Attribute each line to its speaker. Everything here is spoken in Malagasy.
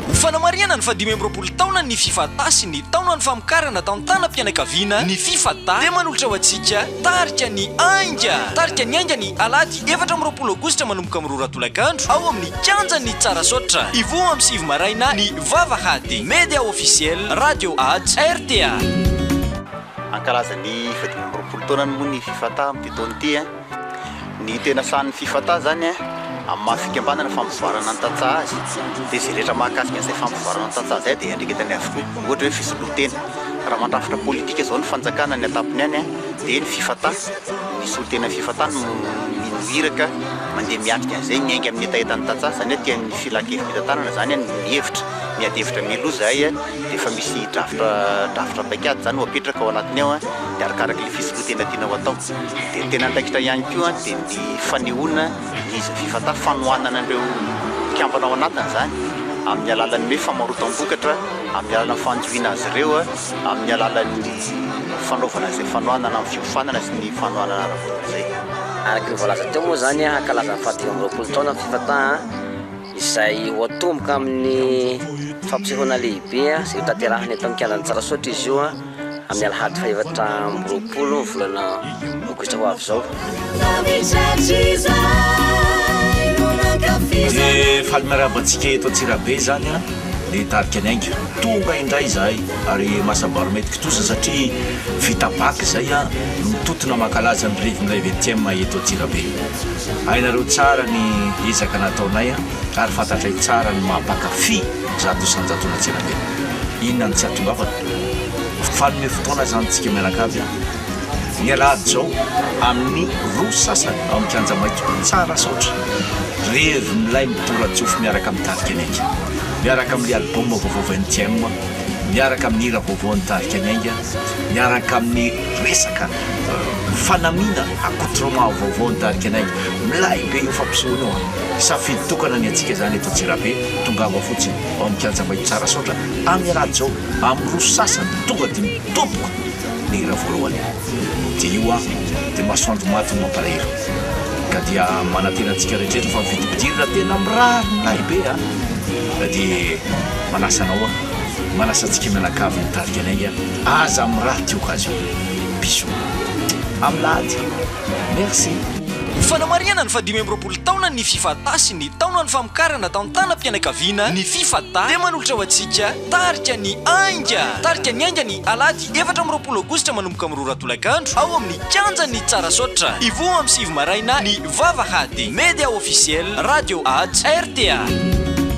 Speaker 1: Ho fanamarihana ny fahadimy amby roapolo taonan'ny Fifata sy ny taonan'ny famokarana tantanam-pianakaviana ny Fifata dia manolotra ho antsika Tarika ny Ainga. Tarika ny Ainga ny Alahady efatra amby roapolo Aogositra manomboka amin'ny roa ora tolakandro ao amin'ny Kianjan'ny Tsarasaotra. Hivoha amin'ny sivy maraina ny Vavahady. Media Officiel, Radio Ads, rta. Hankalaza ny
Speaker 2: fahadimy amby roapolo taonany moa ny Fifata amin'ity taona ity. Ny tena sahan'ny Fifata izany amin'ny maha fikambanana fampivoarana ny tantsaha azy dia izay rehetra mahakasika an'izay fampivoarana ny tantsaha izay dia iandraiketany avokoa. Ohatra hoe fisolontena, raha mandrafitra politika izao ny fanjakana ny an-tampony any dia ny Fifata, ny solontenan'ny Fifata no mino iraka mandeha miatrika an'izay miainga amin'ny hetahetan'ny tantsaha izany hoe tian'ny Filan-kevi-pitantanana izany ny hevitra, miady hevitra mialoha izahay dia efa misy drafitra, drafitra paikady izany ho apetraka ao anatiny ao dia arakaraky ilay fisolontena tiana ho atao. Dia ny tena andraikitra ihany koa dia ny fanehoana ny fivata, fanohanana an'ireo mpikambana ao anatiny izany amin'ny alalan'ny hoe famarotam-bokatra, amin'ny alalan'ny fanjohiana azy ireo, amin'ny alalan'ny fanaovana izay fanohanana amin'ny fiofanana sy ny fanohanana ara-bola izay. Araka ny voalaza
Speaker 3: teo moa izany, hankalaza ny fahadimy amby roapolo taona ny fivata izay ho atomboka amin'ny fampisehoana lehibe izay hotanterahina eto amin'ny kianjan'i Tsarasaotra izy io. amin'ny alahady fahefatra amby roapolo ny volana aogositra ho avy izao.
Speaker 4: Dia faly miarahaba antsika eto Antsirabe izany an, dia hitarika ny ainga. Tonga indray izahay ary mahasabary maître kitoza satria vita bac izay no mitotona mankalaza ny revin-dray vingtième eto Antsirabe. Hainareo tsara ny ezaka nataonay ary fantatray tsara ny maha mpankafy. Zato isan-jatona tsirabe. Inona no tsy atongavana? Mpanome fotoana izany isika mianaka avy an! Ny alahady izao amin'ny roa sasany ao amin'ny kianja maitso. Tsara saotra. Revy milay midora-tsofy miaraka amin'ny tarika Ny Ainga. Miaraka amin'ny album vaovao vingtième, miaraka amin'ny hira vaovaon'ny tarika Ny Ainga, miaraka amin'ny resaka fanamiana accoutrement vaovaon'ny tarika Ny Ainga. Milay be io fampisehoana io an! Safidy tokana ny antsika izany eto Antsirabe. Tongava fotsiny ao amin'ny kianja madio tsara saotra amin'ny raha Joe amin'ny roso sasany tonga dia mitoboka ny hira voalohany dia io an dia masoandro maty no mampalahelo ka dia manantena antsika rehetra fa vidibidirina tena mirary ny lahy be an ka dia manasa anao an manasa antsika mianakavy mitarika anay an aza mirary ity occasion bisous amin'ny lahady Merci. Ho fanamarihana
Speaker 1: ny fahadimy amby roapolo taona ny Fifatah sy ny taonan'ny famokarana tantanam-pianakaviana ny Fifatah dia manolotra ho antsika tarika ny Ainga. Tarika ny Ainga ny alahady efatra amby roapolo aogositra manomboka amin'ny roa ora tolakandro ao amin'ny kianjan'ny Tsarasaotra. Hivoha amin'ny sivy maraina ny vavahady. Media Officiel, Radio Ads, rta.